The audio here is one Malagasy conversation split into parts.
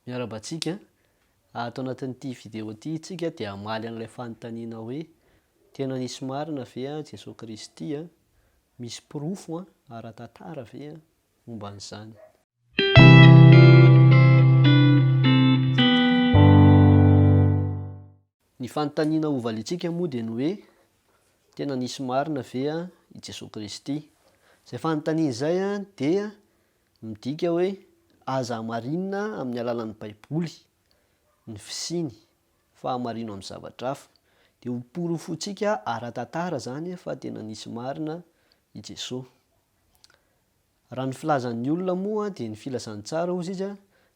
Miarahaba antsika, ato anatin'ity video ity isika dia hamaly an'ilay fanontaniana hoe, tena nisy marina ve an Jesoa Kristy an? Misy porofo an ara-tantara ve an momba an'izany? Ny fanontaniana hovaliantsika moa dia ny hoe, tena nisy marina ve i Jesoa Kristy? Izay fanontaniana izay dia midika hoe aza hamarinina amin'ny alalan'ny Baiboly ny fisiany fa hamarino amin'ny zavatra hafa. Dia ho porofontsika ara-tantara izany fa tena nisy marina i Jesoa. Raha ny filazan'ny olona moa dia ny filazantsara hozy izy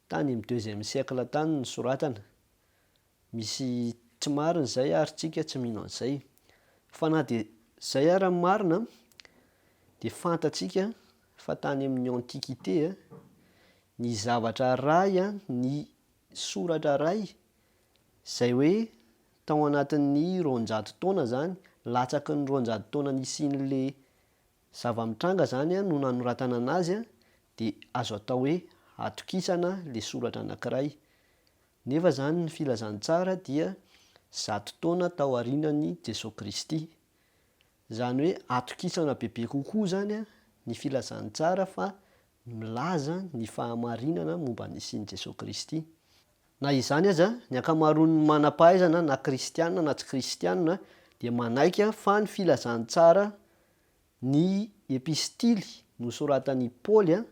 tany amin'ny deuxième siècle tany ny soratana. Misy tsy marina izay ary tsika tsy mino an'izay. Fa na dia izay ara ny marina dia fantatsika fa tany amin'ny antiquite ny zavatra ray ny soratra ray izay hoe tao anatin'ny roanjato taona izany latsaky ny roanjato taona nisian'le zava-mitranga izany no nanoratana anazy dia azo atao hoe atokisana le soratra anankiray. Nefa izany ny filazantsara dia zato taona tao aorianan'i Jesoa Kristy. Izany hoe atokisana bebe kokoa izany ny filazantsara fa milaza ny fahamarinana momba ny nisian'i Jesoa Kristy. Na izany aza, ny ankamaroan'ny manam-pahaizana na kristiana na tsy kristiana dia manaiky fa ny filazantsara ny epistily nosoratan'i Paoly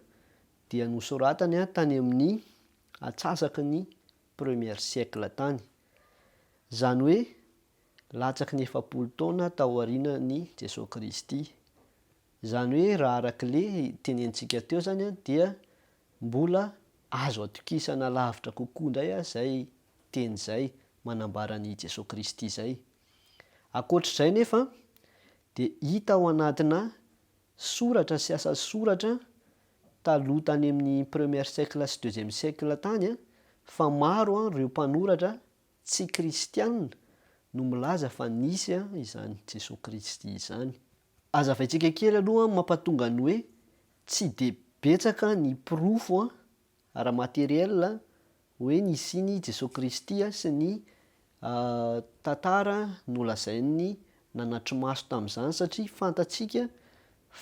dia nosoratany tany amin'ny atsasaky ny premier siècle tany, izany hoe latsaky ny efapolo taona taorianan'i Jesoa Kristy. Izany hoe raha arak'le tenenintsika teo izany an, dia mbola azo atokisana lavitra kokoa indray aza izay teny izay manambara an'i Jesoa Kristy izay. Ankoatr'izay nefa dia hita ao anatina soratra sy asa soratra taloha tany amin'ny premier siècle sy deuxième siècle tany fa maro ireo mpanoratra tsy kristianina no milaza fa nisy izany Jesoa Kristy izany. Azavaintsika kely aloha ny mampatonga ny hoe tsy dia betsaka ny porofo Ara materiel, hoe nisian'i Jesoa Kristy sy ny tantara nolazainy nanatri-maso tamin'izany satria fantatsika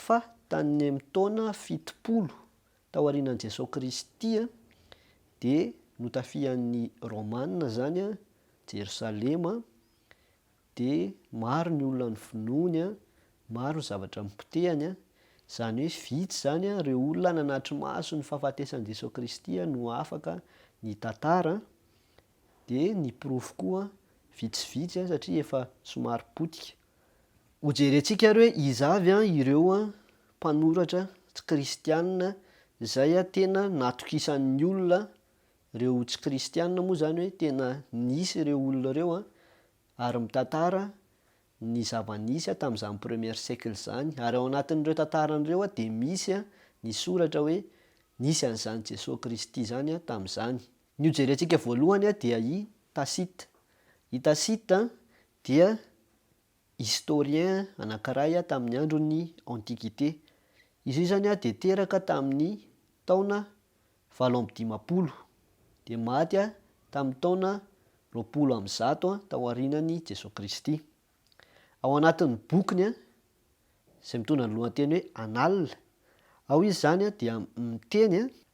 fa tany amin'ny taona fitopolo taorianan'i Jesoa Kristy dia notafihan'ny Romana izany Jerosalema dia maro ny olona ny vonoiny an, maro ny zavatra nipotehany an, izany hoe vitsy izany an, ireo olona nanatri-maso ny fahafatesan'i Jesoa Kristy an no afaka nitantara an, dia ny porofo koa vitsivitsy an satria efa somary potika. Hojerentsika ary hoe iza avy an ireo an mpanoratra tsy kristianina izay an tena natokisan'ny olona Ireo tsy kristiana moa izany hoe tena nisy ireo olona ireo an, ary mitantara ny zava-nisy an tamin'izany première siècle izany, ary ao anatin'ireo tantarany ireo an dia misy an ny soratra hoe nisy an'izany Jesoa Kristy izany an tamin'izany. Ny ho jerentsika voalohany an dia i Tacite. I Tacite an dia historien anankiray tamin'ny andron'ny Antiquité. Izy io izany dia teraka tamin'ny taona valo amby dimampolo, dia maty tamin'ny taona roapolo amby zato taorianan'i Jesoa Kristy. Ao anatin'ny bokiny izay mitondra ny lohateny hoe Annales, ao izy izany dia miteny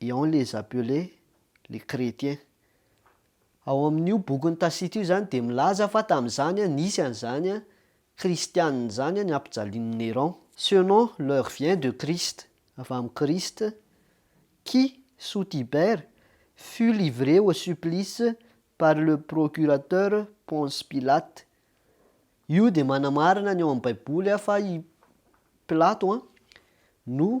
et on les appelait les chrétiens. Ao amin'io bokin'i Tacite io izany dia milaza fa tamin'izany nisy an'izany kristianina izany nampijalian'i Néron. Ce nom leur vient de Christ, avy amin'i Kristy, qui, sous Tibère, fut livré au supplice par le procurateur Ponce Pilate. Io dia manamarina ny ao amin'ny Baiboly fa i Pilato no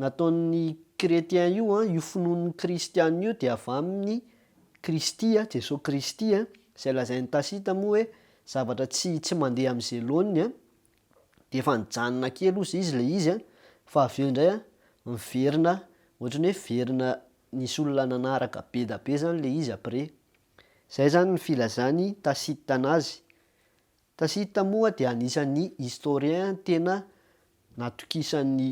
nataon'ny chretien io an, io finoan'ny kristiana io dia avy amin'ny Kristy an, Jesoa Kristy an, izay lazain'i Tacite moa hoe zavatra tsy tsy mandeha amin'ny Zelony an, dia efa nijanona kely ozy izy ilay izy an, fa avy eo indray an, miverina ohatra ny hoe miverina nisy olona nanaraka be da be izany ilay izy après. Izay izany ny filazan'i Tacite anazy. Tacite moa dia anisan'ny historien tena natokisan'ny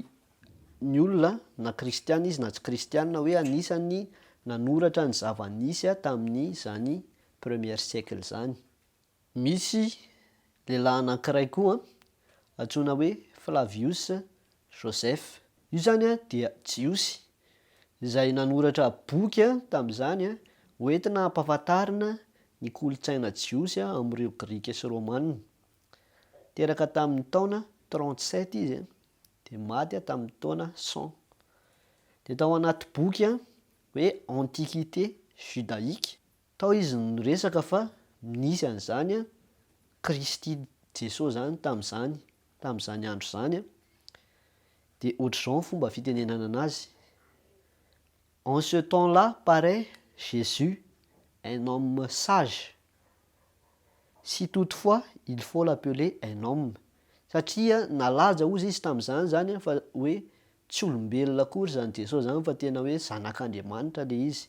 ny olona na kristiana izy na tsy kristiana hoe anisan'ny nanoratra ny zava-nisy tamin'izany premier siècle izany. Misy lehilahy anankiray koa antsoina hoe Flavius Joseph, io izany dia Jiosy, izay nanoratra boky tamin'izany hoentina hampahafantarina ny kolontsaina jiosy amin'ireo Grika sy Romana. Teraka tamin'ny taona trente-sept izy dia maty tamin'ny taona cent. Dia tao anaty boky hoe Antiquité judaïque, Tao izy no niresaka fa nisy an'izany an, Kristy Jesoa zany tamin'izany, tamin'izany andro izany an, dia ohatr'izao ny fomba fitenenana anazy, en ce temps là parait Jésus un homme sage, si toutefois il faut l'appeler un homme, satria nalaza hozy izy tamin'izany izany an fa hoe tsy olombelona akory izany Jesoa izany fa tena hoe zanak'Andriamanitra ilay izy.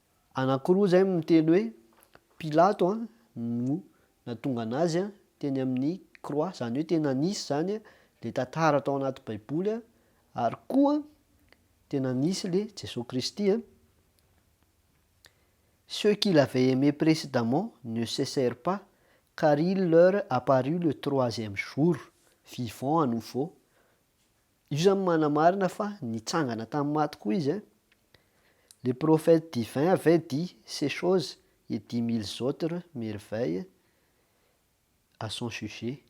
Anankiroa izay no miteny hoe, Pilato no natongana azy teny amin'ny croix, izany hoe tena nisy izany ilay tantara tao anaty baiboly ary koa tena nisy ilay Jesoa Kristy. Ceux qu'il avait aimé précédemment ne cessèrent pas, car il leur apparut le troisième jour, vivant à nouveau. Io izany manamarina fa nitsangana tamin'ny maty koa izy. Les prophètes divins avaient dit ces choses et dix milles autres merveilles à son sujet.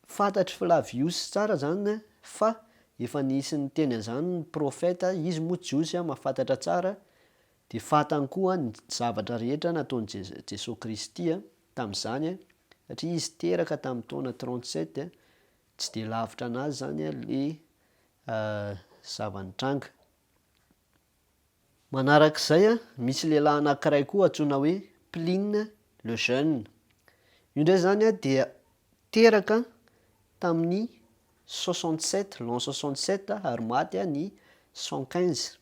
Fantatr'i Flavius tsara izany fa efa nisy niteny an'izany ny profeta, izy moa Jiosy mahafantatra tsara, dia fantany koa ny zavatra rehetra nataon'i Jesoa Kristy tamin'izany, satria izy teraka tamin'ny taona trente-sept, Tsy dia lavitra anazy zany le zava-nitranga. Manarak'izay an, misy lehilahy anankiray koa antsoina hoe Pline le jeune. Io ndray zany an dia teraka tamin'ny soixante sept, l'an soixante sept ary maty ny cent quinze.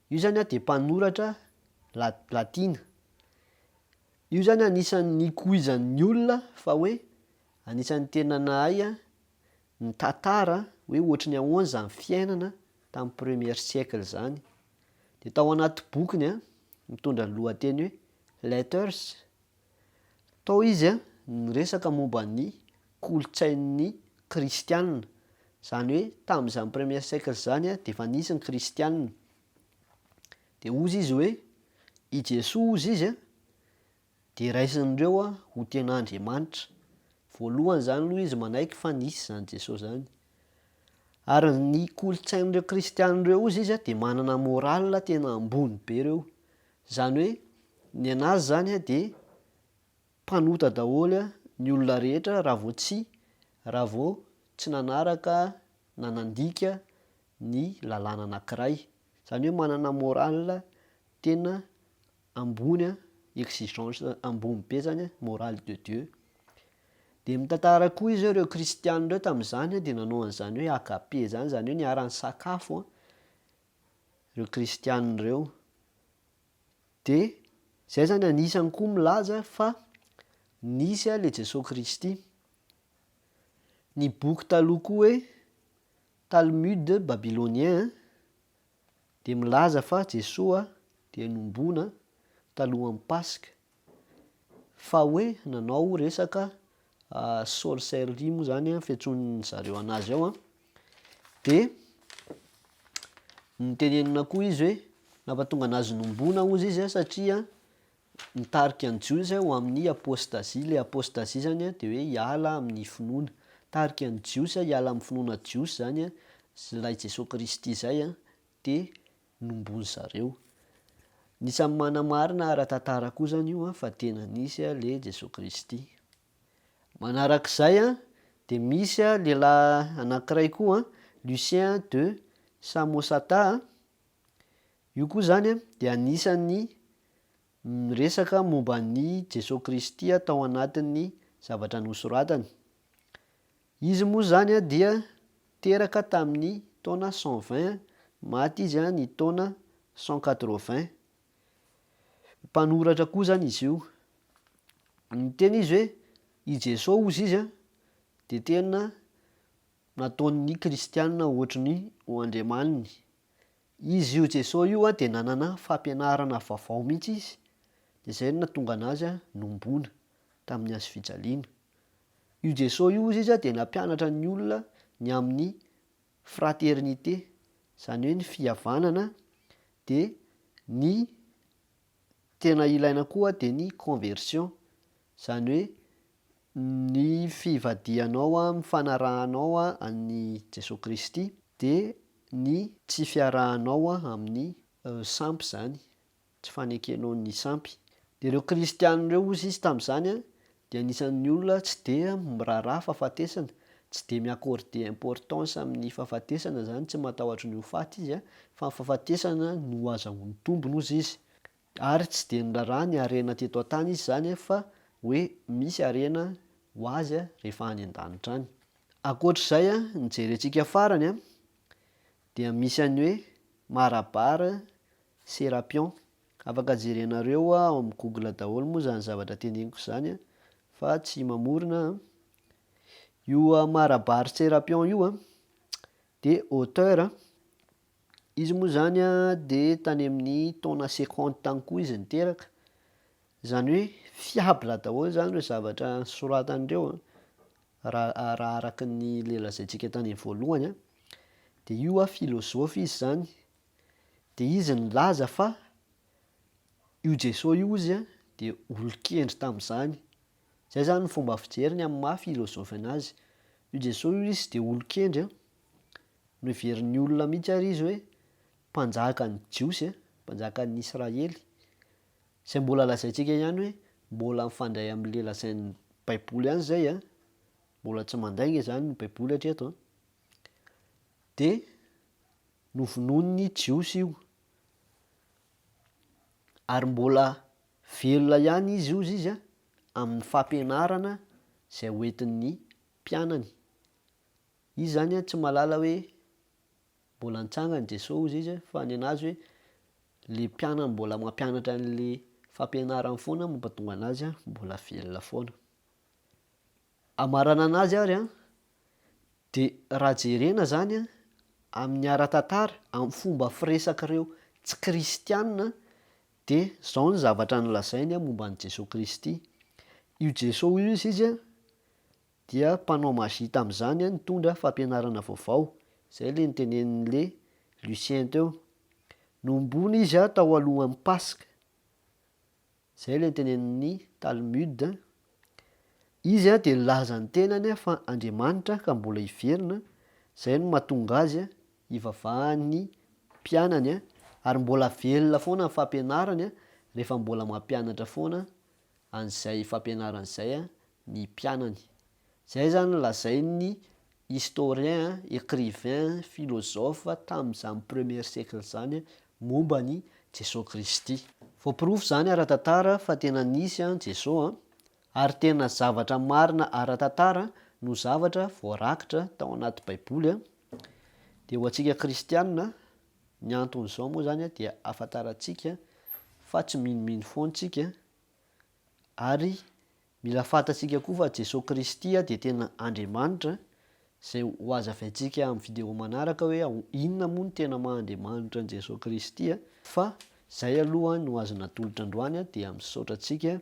Io zany an dia mpanoratra la- latina. Io zany anisan'ny nikoizan'ny olona fa hoe Anisan'ny tena nahay an, ny tatara hoe ohatry ny ahoana izany fiainana tamin'ny premier siècle izany. Dia tao anaty bokiny an, mitondra ny lohateny hoe Letters, tao izy an, niresaka momba ny kolontsain'ny kristianina. Izany hoe tamin'izany premier siècle izany an, dia efa nisy ny kristianina. Dia hozy izy hoe, i Jesoa hozy izy an, Dia raisin'ireo ho tena Andriamanitra. Voalohany izany aloha izy manaiky fa nisy izany Jesosy izany. Ary ny kolontsain'ireo kristiana ireo ozy izy dia manana morale tena ambony be ireo. Izany hoe ny anazy izany dia mpanota daholo ny olona rehetra raha vao tsy raha vao tsy nanaraka na nandika ny lalàna anankiray. Izany hoe manana morale tena ambony an, exigence ambony be zany an, morale de Dieu. Dia mitantara koa izy hoe ireo kristianina ireo tamin'izany dia nanao an'izany hoe agape izany, izany hoe niara-nisakafo an, ireo kristianina ireo. Dia izay zany anisany koa milaza fa nisy an ilay Jesoa Kristy. Ny boky taloha koa hoe Talmud babylonien an. dia milaza fa Jesoa dia nombona talohan'ny Paska, fa hoe nanao resaka sorcellerie moa zany an, fiantsoan'ny zareo anazy ao an, dia notenenina koa izy hoe nampatonga anazy nombona ozy izy an satria Mitarika ny Jiosy ho amin'ny apôstazia. Ilay apôstazia izany dia hoe hiala amin'ny finoana. Mitarika ny Jiosy hiala amin'ny finoana jiosy izany ilay Jesoa Kristy izay dia nombony zareo. Anisan'ny manamarina ara-tantara koa izany io fa tena nisy ilay Jesoa Kristy. Manaraka izay dia misy lehilahy anankiray koa Lucien de Samosata. Io koa izany dia anisan'ny Niresaka momba an'i Jesoa Kristy tao anatin'ny zavatra nosoratany. Izy moa izany dia teraka tamin'ny taona cent vingt, maty izy ny taona cent quatre vingt. Mpanoratra koa izany izy io. Niteny izy hoe i Jesoa hozy izy dia tena nataon'ny kristiana ohatry ny ho andriamaniny. Izy io Jesosy io dia nanana fampianarana vaovao mihitsy izy, dia izay no nahatonga anazy nombona tamin'ny hazo fijaliana. Io Jesosy io hozy izy dia nampianatra ny olona ny amin'ny fraternité, izany hoe ny fihavanana dia ny tena ilaina koa dia ny conversion, izany hoe ny fivadihanao amin'ny fanarahanao an'i Jesoa Kristy dia ny tsy fiarahanao amin'ny sampy izany, tsy fanekenao ny sampy. Ireo kristiana ireo hozy izy tamin'izany dia anisan'ny olona tsy dia miraharaha fahafatesana, tsy dia mi-accorder importance amin'ny fahafatesana izany, tsy matahotra ny ho faty izy an, fa ny fahafatesana no azahoany tombony hozy izy, ary tsy dia niraharaha ny harena teto an-tany izy izany an, fa hoe misy harena ho azy an rehefa any an-danitra any. Ankoatr'izay an, ny jerentsika farany an, dia misy an'ny hoe Marabare Serapion Afaka jerenareo ao amin'ny google daholo moa izany zavatra teneniko izany an, fa tsy mamorona an. Io Marabar Serapion io an, dia auteur an, izy moa izany an dia tany amin'ny taona seconte tany koa izy niteraka, izany hoe fiable daholo izany ireo zavatra soratany ireo an, raha raha araka ny ilay lazaintsika tany voalohany an, dia io an filozofy izy izany, Dia izy nilaza fa io Jeso io ozy an dia olon-kendry tamin'izany. Izay izany ny fomba fijery ny amin'ny maha filozofy anazy. Io Jeso io izy dia olon-kendry an, noheverin'ny olona mihitsy ary izy hoe mpanjakan'ny Jiosy an, mpanjakan'ny Israely. Izay mbola lazaintsika ihany hoe mbola mifandray amin'ilay lazain'ny baiboly ihany izay an, mbola tsy mandainga izany ny baiboly hatreto an. Dia. Novonoin'ny Jiosy io, ary mbola velona ihany izy hozy izy amin'ny fampianarana izay hoentin'ny mpianany. Izy izany tsy mahalala hoe mbola nitsangan'i Jesoa hozy izy fa ny an'azy hoe ilay mpianany mbola mampianatra an'ilay fampianarany foana no mampatonga an'azy mbola velona foana. Hamarana anazy ary an, de raha jerena zany an, amin'ny ara-tantara, amin'ny fomba firesak'ireo tsy kristiana, de zao ny zavatra nolazainy an momba an'i Jesoa Kristy, io Jesoa io hozy izy an, dia mpanao magie tamin'izany an nitondra fampianarana vaovao, zay le nitenenin'le Lucien teo, nohomboana izy an tao alohan'ny Paska, Izay ilay tenenin'ny Talmud. Izy dia nilaza ny tenany fa Andriamanitra ka mbola hiverina, izay no mahatonga azy hivavaha ny mpianany ary mbola velona foana ny fampianarany rehefa mbola mampianatra foana an'izay fampianarany izay ny mpianany. Izay izany lazain'ny historien, écrivain, philosophe tamin'izany premier siècle izany momba an'i Jesoa Kristy. Voaporofo izany ara-tantara fa tena nisy an'i Jesoa ary tena zavatra marina ara-tantara no zavatra voarakitra tao anaty Baiboly dia ho antsika kristianina ny anton'izao moa izany dia ahafantarantsika fa tsy minomino foana isika ary Mila fantatsika koa fa Jesoa Kristy dia tena Andriamanitra, izay ho azavaintsika amin'ny vidéo manaraka hoe inona moa no tena maha Andriamanitra an'i Jesoa Kristy, fa izay aloha no azo natolotra androany dia misaotra antsika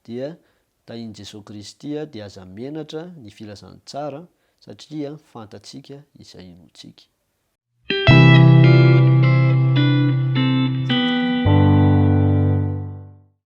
dia tahin'i Jesoa Kristy dia aza menatra ny filazantsara satria fantatsika izay inoantsika.